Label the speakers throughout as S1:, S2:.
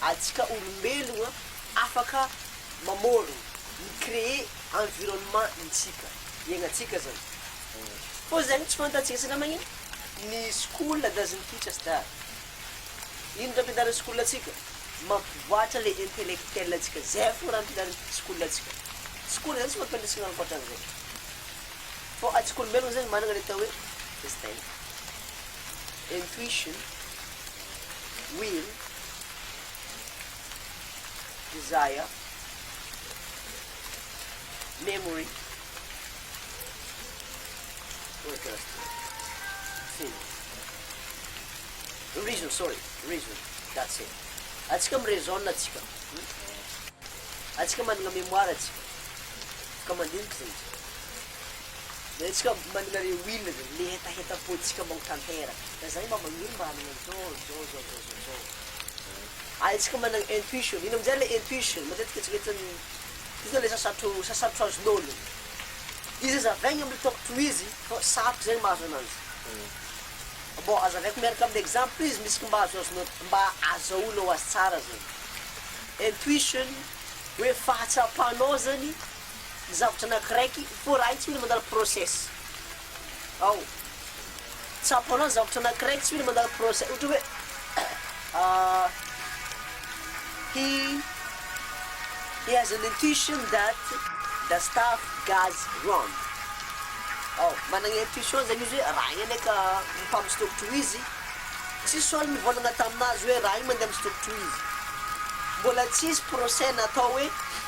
S1: Antsika olombelogna afaka mamôrogno, mi-créer environnement ntsika iaignantsika zany. Fô zegny tsy fantantsika satria magnino? Ny school doesn't teach us that. Ino raha ampianarin'ny school antsika? Mampivoàtra le intellectuel antsika, zay fô raha ampianarin'ny school antsika. School zany tsy mampianatra antsika ankoatran'zay. Fô antsika olombelogna zegny managna le atao hoe instinct, intuition. Will, Desire, Memory, Worker, Film. Reason, sorry, reason, that's it. Atsika mi-raisonne atsika. Atsika managna mémoire atsika. Ka mandinika zegny tsika. Maintsika manana re Will re le hetaheta poetika mao tanteraka ka zay mba magniry mba hanana an'zao zao zao zao zao zao ahaitsika manana intuition ino amizay le intuition matetika eritreretin'ny io zany le sasatro sasatro azon'olo izy azavaigny amle tôko tohizy fa sarotra zegny mahazo ananjy bon azavaiko miaraka amle exemple izy misy mba azoazonao mba azahoanao azy tsara zegny intuition hoe fahatsapanao zany zavatra anakiraiky for raha io tsy mila mandala process ao tsapanao ny zavatra anakiraiky tsy mila mandala process ohatra hoe hi hi has an intuition that the staff goes wrong ao managna intuition zany izy hoe raha io anie ka mpa mistokotro ho izy tsisy ol nivôlagna taminazy hoe raha io mandeha mistokotro ho izy mbôla tsisy process natao hoe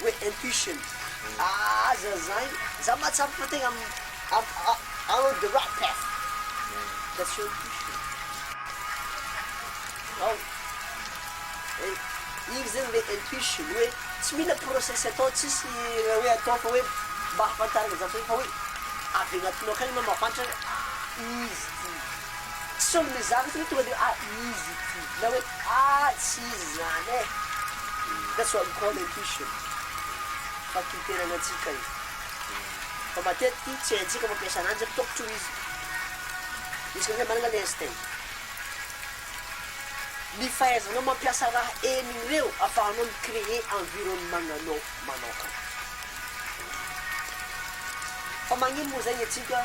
S1: hoe intuition aza zany za mahatsapa fa tegna am am on the right path that's your intuition ao igny zegny le intuition hoe tsy mila process atao tsisy raha hoe atao fa hoe mba hahafantarana zany fa hoe avy agnatinao akagny anao mahafantra hoe izy ty. Some le zavatra hoe tonga de ah izy ity na hoe ah tsy izy zany e! That's what we call intuition, fakintenanantsika io. Fa matetiky tsy haintsika mampiasa ananjy satria tôkotro izy. Isika amin'izay manana le instinct. Ny fahaizanao mampiasa raha enina ireo afahanao mi-creer environnement-gnanao manokana. Fa magnino moa zay ny antsika?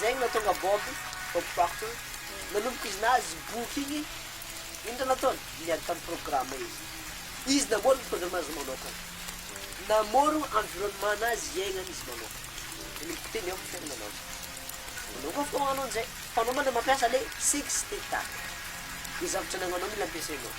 S1: Zay no nahatonga Bob Bob Proctor nanomboka izy nahazo boky igny, ino raha nataony? Niady tam programme izy. Izy namôro ny programme nazy manôkagna. Namôro environnement nazy iaignany izy manôkagna. Nanomboka teo niampy fiainagna anazy. Anao koa afaka magnano anzay fa anao mba le mampiasa le sexy TikTok. Ny zavatra nagnanao mila ampiasainao.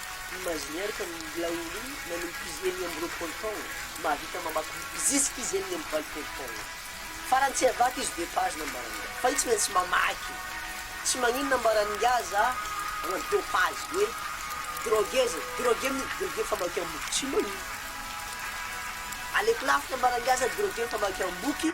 S1: Imaginer fa ilay olo iny nanomboka izy enina amby roapolo taona mahavita mamaky boky zisky izy enina amby valopolo taona. Farany tsy havaky izy deux pages nambaran'ingahy fa io tsy maintsy mamaky e! Tsy magnino nambaran'ingahy za agnaty deux pages hoe drogue zay, drogue mody drogue famakiam-boky, tsy magnino. Aleoko lafo nambaran'ingahy za drogue famakiam-boky.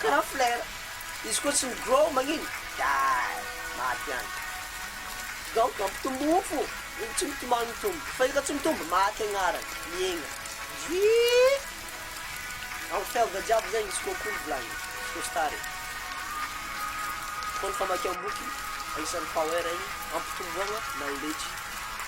S1: Karaha flare. Izy koa tsy mi-grow magnino? Gay. Maty any. Donc mampitombo mofo no tsy mitomany mitombo. Fa io ka tsy mitombo, maty agnarany. Miaigna. Drii. Am felda jiaby zegny izy koa kolo volagniny. Izy koa star e. Koa ny famakiam-boky agnisan'ny power igny ampitomboagna knowledge.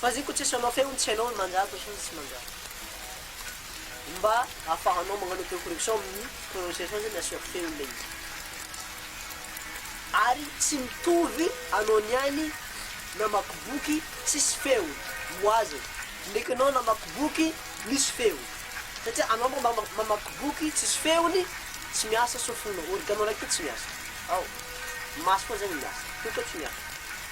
S1: Fa zay ko tsy asanao f'eo tsy hainao ny manjary fa sao ny tsy manjary. Ny mba ahafahanao magnano auto correction amin'ny prononciation zany asio feo ilay izy. Ary tsy mitovy anao niany namaky boky tsisy feony, moazy, ndreky anao namaky boky misy feony. Satria anao mba mamaky boky tsisy feony tsy miasa sofinao, organo raiky io tsy miasa. Ao. Maso foana zany miasa. Io koa tsy miasa.